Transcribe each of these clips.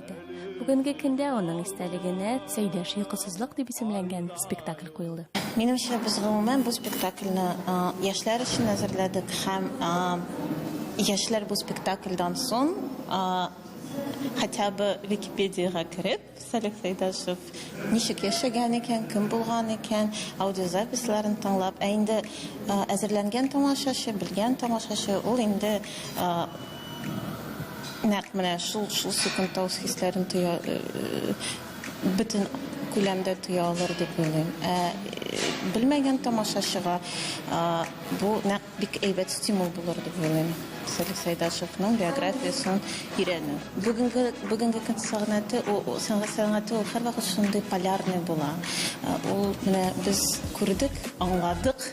үтте. Бүгенге көндә аның истәлегенә Сәйдәш йокысызлык дип исемләнгән спектакль куелды. Минемчә, без гомумән бу спектакльне яшьләр өчен әзерләдек һәм яшьләр бу спектакльдан соң хотя бы Википедиягә кереп, Салих Сәйдәшев ничек яшәгән икән, кем булган икән, аудиозаписларын тыңлап, ә инде әзерләнгән тамашачы, белгән тамашачы ул инде Нәкъ менә шул шул секундта үз хисләрен тоя, э, бөтен күләмдә тоя алыр дип уйлыйм. Ә э, белмәгән тамашачыга э, бу нәкъ бик әйбәт стимул булыр дип уйлыйм. Сәлих Сәйдашевның биографиясен өйрәнү. Бүгенге бүгенге көн сәнгате, ул сәнгать сәнгате ул һәрвакыт шундый полярный була. Ул менә без күрдек, аңладык,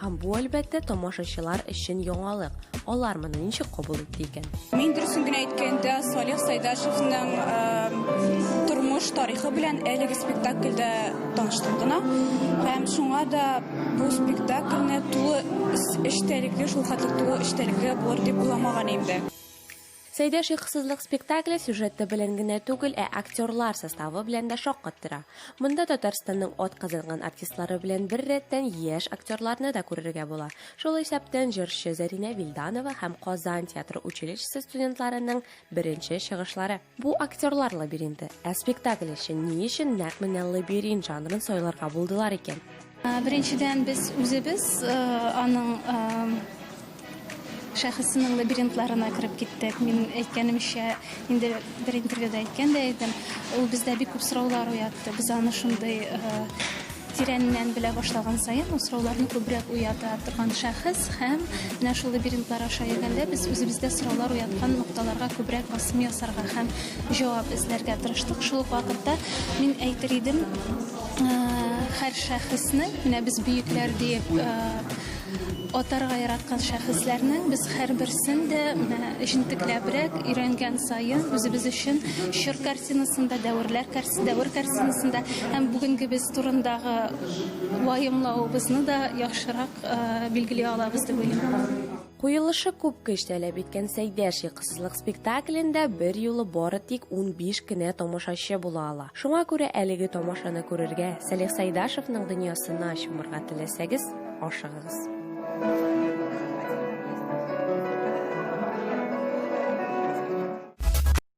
Һәм бу, әлбәттә, тамашачылар өчен яңалык. Алар моны ничек кабул итте икән? Мин дөресен генә әйткәндә, Салих Сайдашевның э, тормыш тарихы белән әлеге спектакльдә таныштым гына. Һәм шуңа да бу спектакльне тулы эчтәлекле, шул хәтле тулы эчтәлекле булыр дип уйламаган идем дә. Сәйдәш йокысызлык спектакле сюжеты белән генә түгел, ә актерлар составы белән дә шаккат тора. Монда Татарстанның атказанган артистлары белән бер рәттән яшь актерларны да күрергә була. Шул исәптән җырчы Зәринә Вилданова һәм Казан театры училищесы студентларының беренче чыгышлары. Бу актерлар лабиринты. Ә спектакль өчен ни өчен нәкъ менә лабиринт жанрын сайларга булдылар икән? Беренчедән, без үзебез аның шәхесенең лабиринтларына кереп киттек. Мин әйткәнемчә, инде бер интервьюда әйткән дә идем, ул бездә бик күп сораулар уятты. Без аны шундый тирәннән белә башлаган саен, ул сорауларны күбрәк уята торган шәхес һәм менә шул лабиринтлар аша йөргәндә без үзебездә сораулар уяткан нокталарга күбрәк басым ясарга һәм җавап эзләргә тырыштык. Шул ук вакытта мин әйтер идем, Һәр шәхеснең, менә без бөекләр диеп атарга яраткан шәхесләрнең без һәрберсен дә җентекләбрәк өйрәнгән саен үзебез өчен чор картинасында, дәверләр дәвер картинасында һәм бүгенгебез турындагы ваемлавыбызны да яхшырак билгели алабыз дип уйлыйм. Куелышы күп көч таләп иткән Сәйдә шиксызлык спектаклендә бер юлы бары тик унбиш кенә тамашачы була ала. Шуңа күрә әлеге тамашаны күрергә, Салих Сайдашевның дөньясына чумырга теләсәгез, ашыгыгыз.